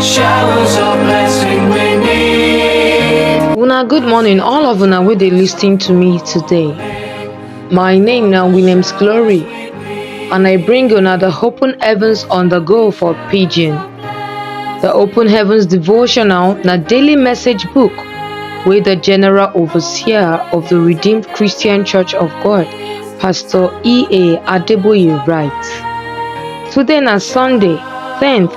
Showers of blessing we need. Una good morning, all of una wey dey lis ten to me today. My name na Williams Glory, and I bring una the Open Heavens on the Go for Pidgin. The Open Heavens devotional na daily message book wey the General Overseer of the Redeemed Christian Church of God, Pastor E.A. Adeboye write. Today na Sunday, 10th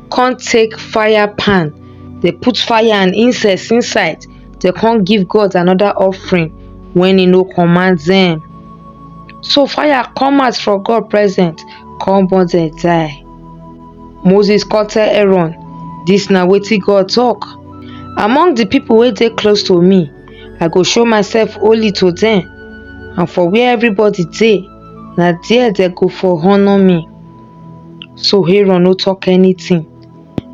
come take fire pan dey put fire and incense inside dey come give God another offering when he no command them so fire come out from God present come burn them die Moses come tell Aaron this na wetin God talk among the people wey dey close to me I go show myself holy to them and for where everybody dey na there they go for honour me So Aaron no talk anything.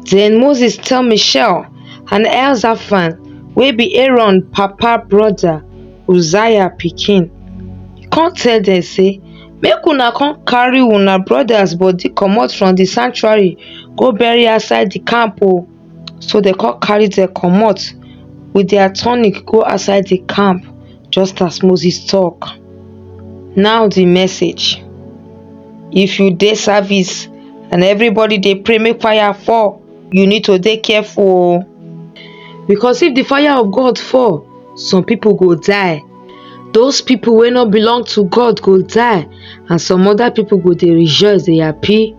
Then Moses tell Michelle and Elzaphan wey be Aaron papa brother Uzziah pikin. He come tell them say make una come carry una brothers body comot from the sanctuary go bury outside the camp o. So they come carry them comot with their tunic go outside the camp. Just as Moses talk, now the message. If you dey service and everybody dey pray make fire fall, you need to dey careful o. Because if the fire of God fall, some people go die. Those people wey no belong to God go die and some other people go dey rejoice, dey happy.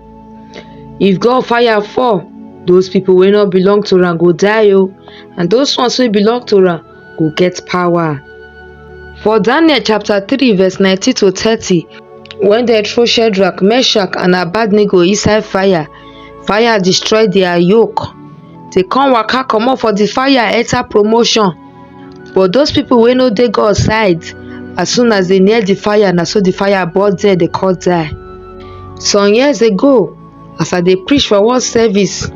If God fire fall, those people wey no belong to am go die o and those ones wey belong to am go get power. For Daniel chapter 3 verse 19 to 30, when they throw Shadrach, Meshach and Abednego inside fire, fire destroy their yoke. They come waka comot for the fire enter promotion. But those people wey no dey God side, as soon as they near the fire, na so the fire burn there, they call die. Some years ago, as I dey preach for one service,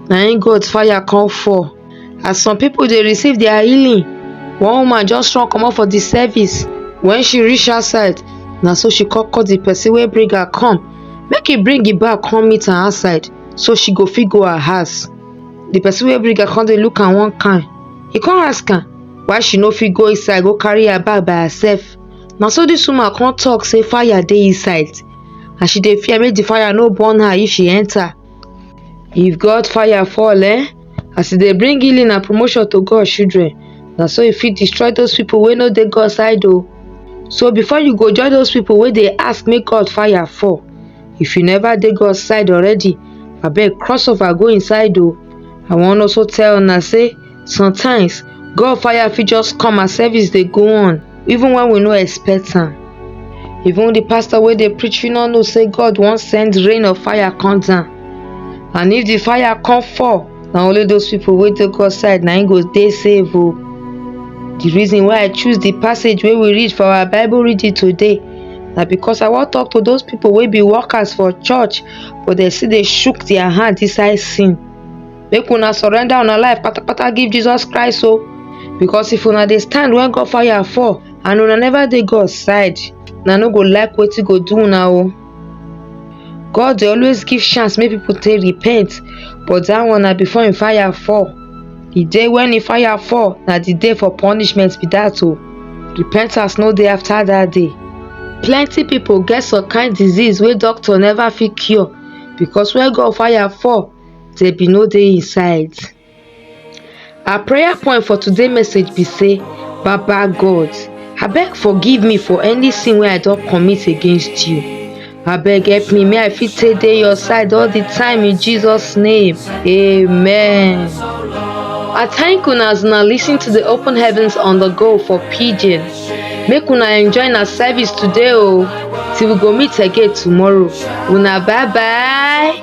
na im God fire come fall. As some pipo dey receive dia healing, one woman just run comot for di service. Wen she reach outside, na so she come call di pesin wey bring her come make e bring im bag come meet am outside so she go fit go her house. Di pesin wey bring am come dey look am one kain, e come ask am why she no fit go inside go carry her bag by herself. Na so dis woman come tok sey fire dey inside and she dey fear make di fire no burn her if she enta. If God fire fall, eh? As e dey bring healing and promotion to God children, na so e fit destroy those people wey no dey God side o. So before you go join those people wey dey ask make God fire fall, if you never dey God side already, abeg cross over go inside o. I wan also tell una say sometimes gun fire fit just come as service dey go on even when we no expect am even the pastor wey dey preach fit no know say God wan send rain of fire come down and if the fire come fall na only those people wey dey God side na im go dey safe o the reason why I choose the passage wey we read for our Bible reading today na because I wan talk to those people wey be workers for church but dem still dey shook their hand inside sin make una surrender una life patapata give jesus christ o because if una dey stand when god fire fall and una never dey god side una no go like wetin go do una o god dey always give chance make people take repent but that one na before him fire fall the day when him fire fall na the day for punishment be that o repentance no dey after that day plenty people get some kind disease wey doctor never fit cure because when god fire fall they be no dey inside our prayer point for today message be say baba god abeg forgive me for any sin wey i don commit against you abeg help me may i fit take dey your side all the time in jesus name amen i thank una as una lis ten to the open heavens on the go for pidgin make una enjoy na service today o till we go meet again tomorrow una bye bye.